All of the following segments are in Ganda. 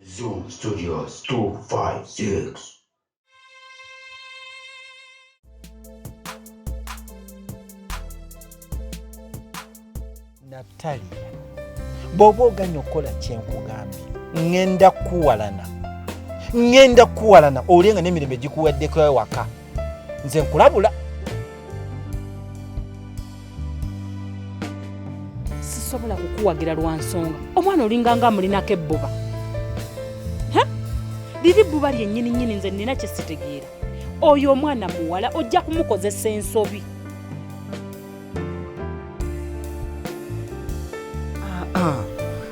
Zoom Studios 256. Natali, bw'oba oganya okukola kye nkugambye ŋŋenda kukuwalana ŋŋenda kukuwalana olye nga n'emirembe gikuweddeko ewaka nze nkulabula sisobola kukuwagira lwa nsonga omwana olinga nga amulinako ebbuba liri bbuba lyennyini nnyini nze nnina kye sitegeera oyo omwana muwala ojja kumukozesa ensobi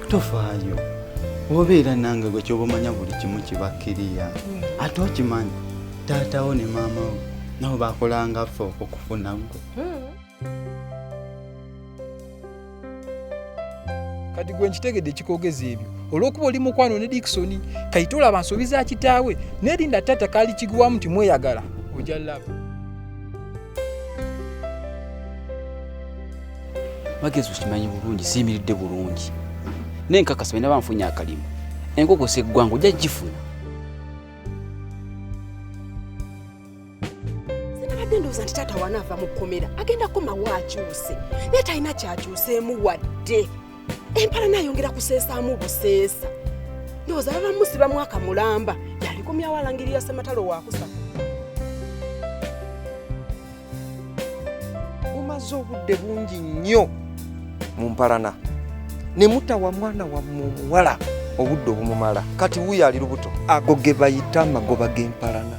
tofaayo obeera nange gwe kyoba omanya buli kimu kibakkiriya ate okimanyi taatawo ne maama wo nabo bakolanga ffe okufuna gwe kati gwe nkitegedde ekikogeza ebyo olwokuba oli mukwano ne dikisoni kayite olaba nsobi za kitaawe nerinda taata kaali kiguwamu nti mweyagala oja laba magezi okimanyi bulungi siyimiridde bulungi naye nkakasa bena banfunye akalimu enkoko seggwanga ojja gifuna sinabadde ndowooza nti taata wanaava mu kkomera agenda komawo akyuse naye talina kyakyuseemu wadde empala nayongera kuseesaamu buseesa ndowooza baba musiba mwaka mulamba yalikomyawo alangirira sematalo wakusa mumaze obudde bungi nnyo mu mpalana ne mutawa mwana wammwe omuwala obudde obumumala kati wuyo ali lubuto ago ge bayita amagoba g'empalana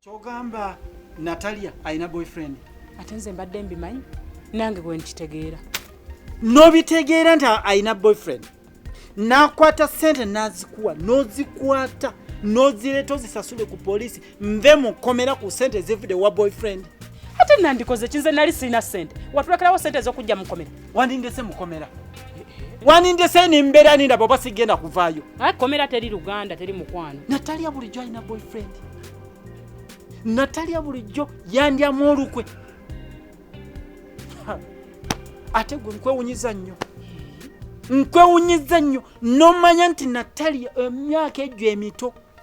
kyogamba natalia alina boyfriend ate nze mbadde mbimanyi nange gwe nkitegeera nobitegeera nti alina boyfriend nakwata sente nazikuwa nozikwata nozireeta ozisasule ku polisi nve mukomera ku sente zivude wa boyfriend ate nandikoze kinze nali sirina sente watulekerawo sente ezokujja mukomera wandindese mukomera wanindese nembeera nindaba oba sigenda kuvaayo komera teri luganda teri mukwano natalya bulijjo alina boyfriend natalya bulijjo yandyamu olukwe ate gwe nkwewunyiza nnyo nkwewunyiza nnyo nomanya nti natalya emyaka egyo emito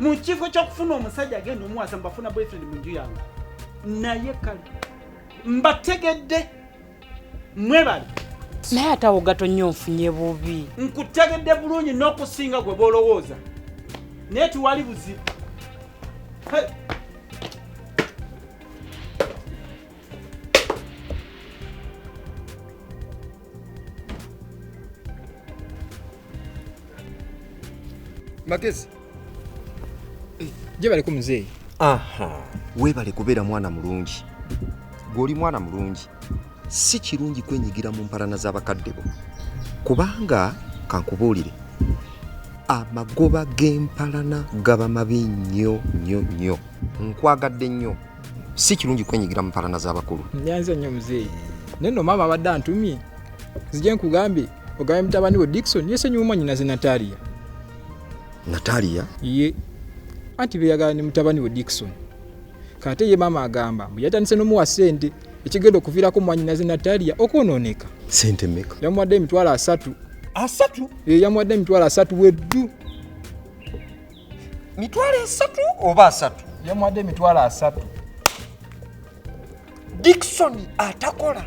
mu kifo kyokufuna omusajja agenda omuwasa mbafuna boyfriend mu nju yange naye kale mbategedde mwebale naye atawo gatonyo nfunye bubi nkutegedde bulungi n'okusinga gwe bolowooza naye tiwali buzibu magezi gyebaleko muzeeyi aha weebale kubeera mwana mulungi gw'oli mwana mulungi si kirungi kwenyigira mu mpalana z'abakadde bo kubanga kankubuulire amagoba g'empalana gaba mabi nnyo nnyo nnyo nkwagadde nnyo si kirungi kwenyigira mu mpalana z'abakulu nyanza nnyo muzeeyi naye no maama abadde antumye zije nkugambye ogambye mutabani we dikson yesenyiwa omwanyinaze natalia natalia ye anti beyagala ne mutabani we dikson kate ye maama agamba mbu yatandise nomuwa sente ekigenda okuviirako mwanyinaze natalia okwonooneka sente meka yamuwadde emitwalo asatu asatu ye yamuwadde emitwalo asatu weddu mitwalo esatu oba asatu yamuwadde emitwalo asatu dikisoni atakola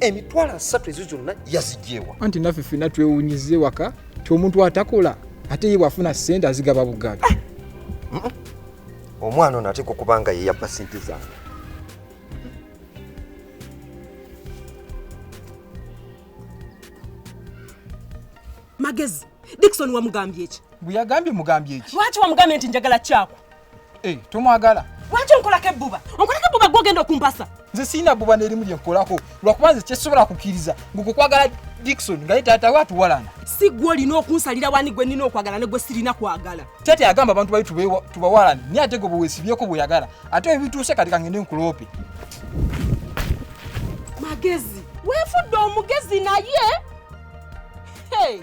emitwalo asatu ezo zonna yazigyewa anti naffe fina twewunyiza ewaka ti omuntu atakola ate ye bwafuna sente azigaba bugabi ah! omwana ono ateeka okuba nga yeyabba sente zange magezi dikisoni wamugambye eki Mbu yagambye mugambye ki? Lwaki wamugambye nti njagala kyako? Eh, tomwagala. Lwaki onkolako ebbuba? Onkolako ebbuba gwe ogenda okumpasa. Nze sirina bbuba n'erimu lye nkolako lwakuba nze kyesobola kukkiriza ng'okukwagala Dickson nga ye taata we atuwalana. Si gwe olina okunsalira wani gwe nnina okwagala ne gwe sirina kwagala. Taata yagamba abantu bali tubawalane naye ate gwe bwe weesibyeko bw'oyagala ate ebituuse kati kangende nkuloope. Magezi. Weefudde omugezi naye. Hey.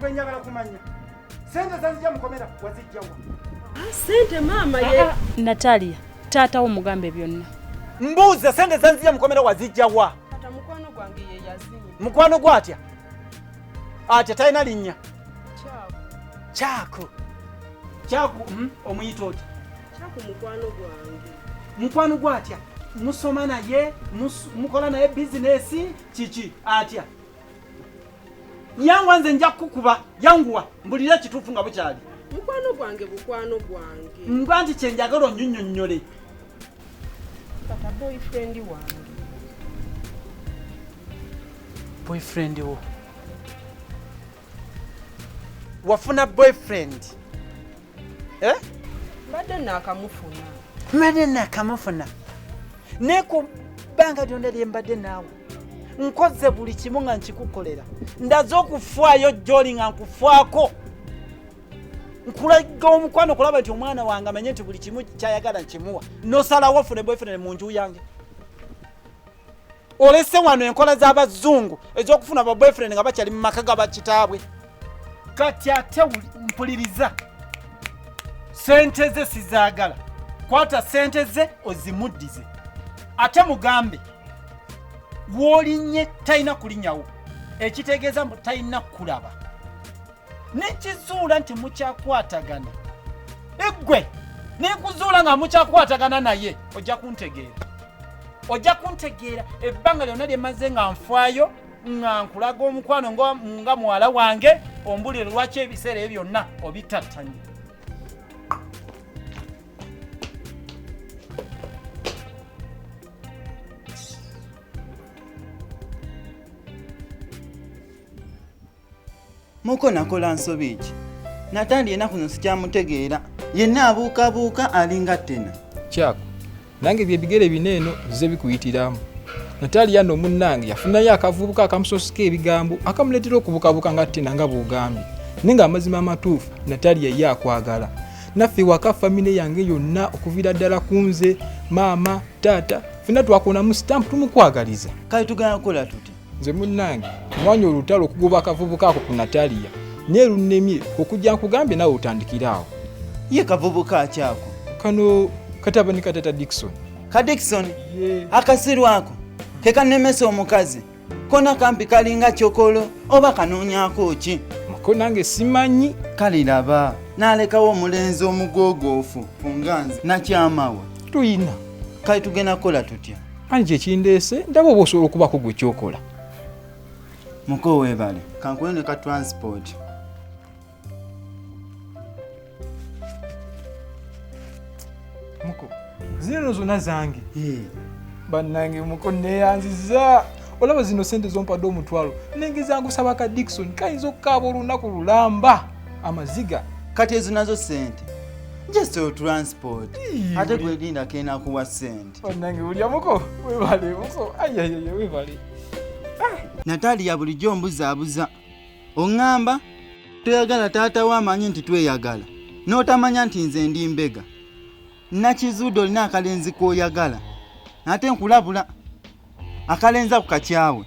gwe njagala kumanya sente zazija mukomera wazijjawa ah, sente maama ye ah, ah. natalia taata wo mugambe byonna mbuuza sente zanzija mukomera wazijjawa mukwano gwe atya atya talina linnya kyaku kyaku hmm? omuyita otya kyaku mukwano gwange mukwano gwa atya musoma naye mukola naye bizinesi kiki atya yanguwa nze nja kukukuba yanguwa mbulira ekituufu nga bukyali mukwano gwange bukwano gwange mba nti kyenjagala onyonyonyole kata boyfriend wange boyfriend wo wafuna boyfriend eh? mbadde nakamufuna mbadde nakamufuna naye ku bbanga lyonna lye mbadde naawe nkoze buli kimu nga nkikukolera ndaze okufaayo joli nga nkufaako nkulaga omukwano kulaba nti omwana wange amanye nti buli kimu kyayagala nkimuwa nosalawo fune boyfriend mu nju yange olese wano enkola z'abazungu ez'okufuna ba boyfriend nga bakyali mu maka ga bakitaabwe kati ate mpuliriza sente ze sizaagala kwata sente ze ozimuddize ate mugambe woolinye talina kulinyawo ekitegeeza mbu talina kulaba nekizuula nti mukyakwatagana eggwe nekuzuula nga mukyakwatagana naye ojja kuntegeera ojja kuntegeera ebbanga lyonna lyemaze nga nfaayo nga nkulaga omukwano nga muwala wange ombulire lwaki ebiseera ebyo byonna obitattanye muko nakola nsobi ki natandi enaku no sikyamutegeera yenna abuukabuuka alinga ttena kyako nange byebigere bina eno bize bikuyitiramu nataliya no munnange yafunayo akavubuka akamusosika ebigambo akamuleetera okubukabuka nga ttena nga bwogambye naye nga amazima amatuufu nataliya ye akwagala naffe waka famire yange yonna okuviira ddala ku nze maama taata fena twakonamu stamp tumukwagaliza kale tugenda kukola tuti nze munnange nwanya olutalo okugoba akavubuka ako ku nataliya naye lunnemye okujja nkugambye nawe otandikire awo ye kavubuka akyako kano katabani katata dikson ka dikson akasiru ako kekanemesa omukazi kona kampi kalinga kyokolo oba kanoonyako ki ko nange simanyi kale laba nalekawo omulenzi omugogoofu kunganzi nakyamawa tuyina kale tugenda kukola tutya ani kyekindeese ndaba oba osobola okubaako gwe kyokola muko webale kankuwe ne ka transport muko zino zona zange bannange muko neyanziza olaba zino sente zompadde omutwalo nenge zangusaba ka dikson kayinza okukaaba olunaku lulamba amaziga kati ezo nazo sente just transport ate gwegindako enakuwa sente bannange bulya muko webale muko ayayaya webale ah! natalia bulijjo ombuzaabuza oŋŋamba toyagala taata we amanyi nti tweyagala n'otamanya nti nze ndi mbega nakizuude olina akalenzi k'oyagala ate nkulabula akalenza ku kakyawe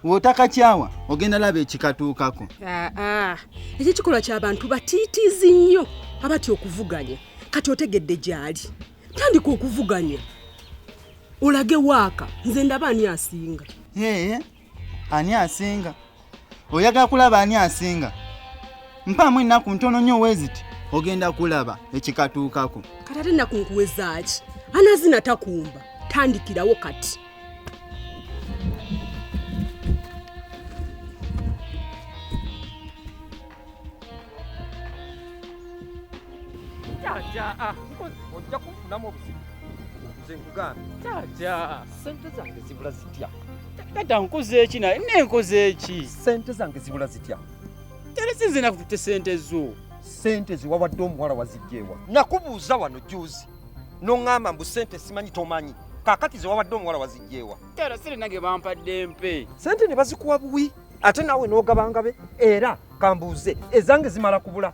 wotakakyawa ogenda laba ekikatuukako ah, ah. ekyo ekikolwa kyabantu batiitiizi nnyo abatya okuvuganya kati otegedde gyali tandika okuvuganya olage waaka nze ndaba ani asinga ee ani asinga oyagala kulaba ani asinga mpaamu ennaku ntono nyo weziti ogenda kulaba ekikatuukako kati ate ennaku nkuwezaaki anazina takumba tandikirawo kati Jaja, ah, ojja kufunamu obuzibu nze nkugambye jaja sente zange zibula zitya taata nkoze eki naye nenkoze eki sente zange zibula zitya tera sinze nakututte sente zo sente ziwawadde omuwala wazijjeewa nakubuuza wano juzi noŋŋamba mbu sente simanyi tomanyi kakati ziwawadde omuwala wazijjeewa tera sente nange bampadde mpe sente ne bazikuwa buwi ate naawe n'ogabanga be era kambuuze ezange zimala kubula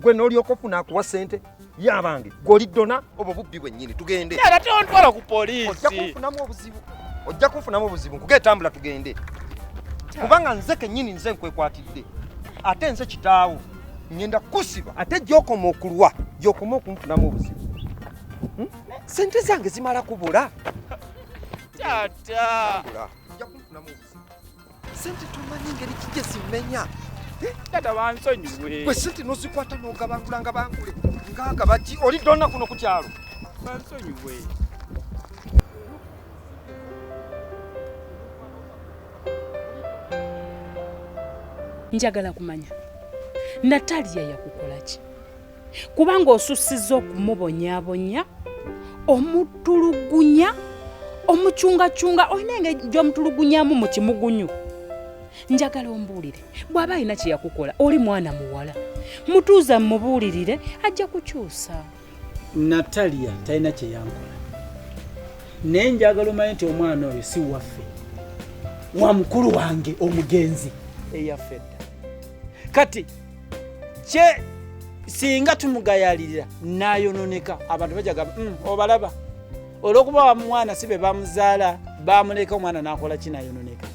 gwe n'olyoka ofuna akuwa ssente yabange gwoli dona obwo bubbi bwennyini tugende era tontwala ku poliisi ojja kunfunamu obuzibu ojja kunfunamu obuzibu nkuge etambula tugende kubanga nze kennyini nze nkwekwatidde ate nze kitaawo ngenda kusiba ate gyokoma okulwa gyokoma okunfunamu obuzibu hmm? sente zange zimala kubula tata sente tomanyi ngeri kijja zimmenya eh? tata bansonyiwe gwe sente nozikwata nogabangula nga bangule ngagabaki oli donna kuno ku kyalo bansonyiwe njagala kumanya natalia yakukolaki kubanga osussizza okumubonyabonya omutulugunya omucungacunga olina engeri gy'omutulugunyamu mu kimugunyu njagala ombuulire bw'aba alina kye yakukola oli mwana muwala mutuuza mumubuulirire ajja kukyusa natalia talina kye yankola naye njagala omanye nti omwana oyo si waffe wa mukulu wange omugenzi eyaffe dda kati kye singa tumugayalirira nayononeka abantu bajagamba mm, obalaba olwokuba wamwana si be bamuzaala bamuleka omwana nakola ki nayononeka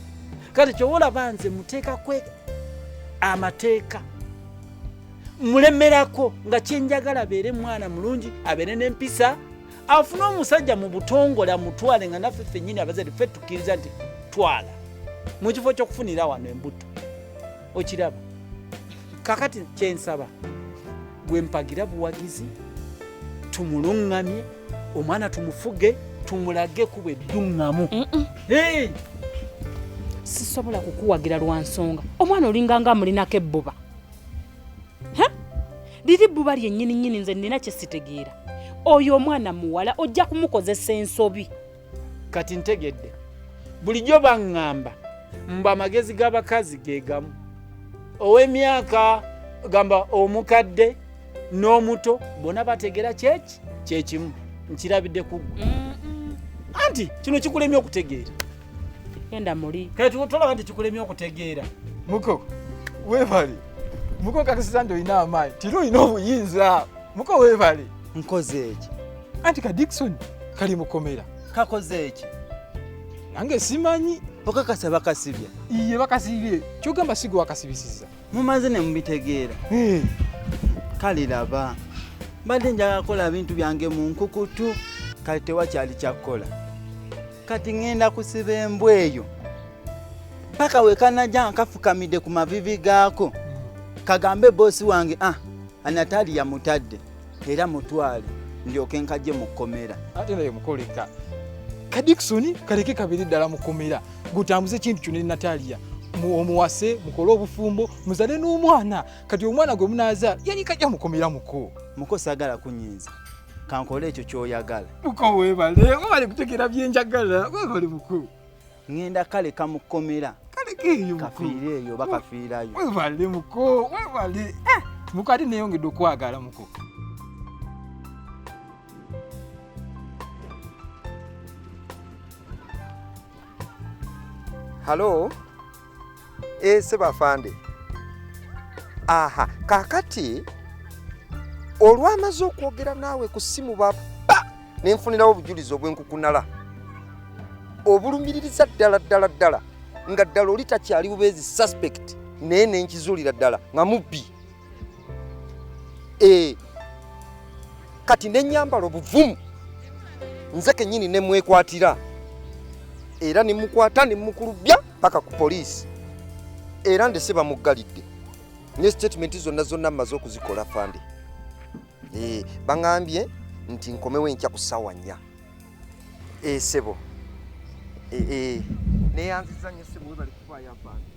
kati kyowolaba nze muteekakwe amateeka mulemerako nga kyenjagala abeere mwana mulungi abeere nempisa afune omusajja mu butongole amutwale nga naffe fenyini abazadde fe tukkiriza nti twala mu kifo kyokufunira wano embuto okiraba kakati kyensaba gwe mpagira buwagizi tumulungamye omwana tumufuge tumulage kuba edduŋŋamu sisobola kukuwagira lwa nsonga omwana olinga nga amulinako ebbuba liri bbuba lyennyini nnyini nze nnina kye sitegeera oyo omwana muwala ojja kumukozesa ensobi kati ntegedde bulijjo baŋŋamba mbu amagezi g'abakazi ge gamu ow'emyaka gamba omukadde n'omuto bona bategera kyeki kyekimu nkirabidde kuggwe anti kino kikulemye okutegeera enda muli kati tolaba nti kikulemye okutegeera muko webale muko kakasiza nti olina amaanyi tiri olina obuyinza muko webale nkoze eki anti ka dikson kali mukomera kakoze eki nange simanyi okakasa bakasibye iye bakasibye kyogamba sigo wakasibisiza mumaze nemubitegeera eh. kale laba mbadde njagala kukola bintu byange mu nkukutu kale tewakyali kyakukola kati ŋenda kusiba embwa eyo paka wekanaja nkafukamidde ku mavivi gaako kagambe bosi wange ah anatali yamutadde era mutwale ndyoke nkajje mu kkomera ate naye mukoleka kadikisoni kaleke kabiri ddala mu kkomera gutambuze ekintu kyo ne nataliya omuwase mukole obufumbo muzale n'omwana kati omwana gwe munaazaala yali kajja mukomera muko muko sagala kunyinza kankole ekyo kyoyagala muko webale webale kutegera byenjagala webale muko ŋŋenda kaleka mu kkomera kafiire eyo oba kafiirayo webale muko webale eh, muko ate neyongedde okwagala muko halo Eh, sebo afande aha kakati olwamaze okwogera naawe ku ssimu baba ne nfunirawo obujulizi obwenkukunala obulumiririza ddala ddala ddala nga ddala oli takyali bubeezi suspect naye nenkizuulira ddala nga mubbi eh, kati nenyambala obuvumu nze kenyini nemwekwatira era nemukwata nemukulubya paka ku poliisi era ndese bamuggalidde ne statement zonna zonna mmaze okuzikola fande eh, baŋambye nti nkomewo enkya ku ssaawa nnya esebo eh, eh, neyanziza nyo sebo webali kufaayo afande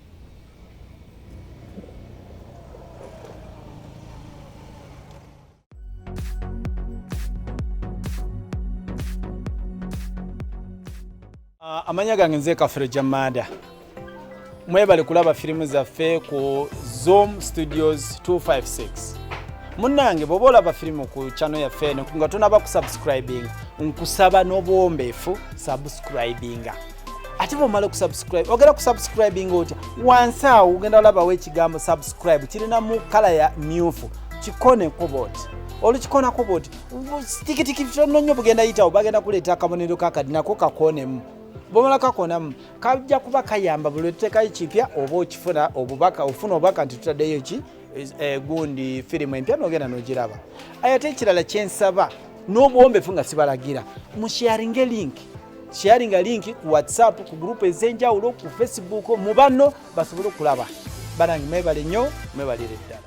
Ah, amanya gange nze kafere jamada mwebale kulaba firimu zaffe ku zoom studios 256 munange bwoba olaba firimu ku chano yaffe eno nga tonaba kusubscribinga nkusaba n'obuwombeefu subscribinga ate bwomala okusubscribe ogenda kusubscribinga otya wansi awo ogenda olabawo ekigambo subscribe kirina mu kala ya myufu kikoneko boti olukikonako boti tikitiki tono nyo bugenda yitawo bagenda kuleeta akabonero kakadi nako kakonemu bwomala kakonamu kajja kuba kayamba buli otutekayo kipya oba okifuna obubaka ofuna obubaka nti tutaddeyo ki Eh, gundi firimu empya nogenda nogiraba ayate ekirala kyensaba n'obuwombefu nga sibalagira musharinge link sharinga link ku whatsapp ku gurupu ez'enjawulo ku facebook mu banno basobole okulaba banange mwebale nnyo mwebalire ddala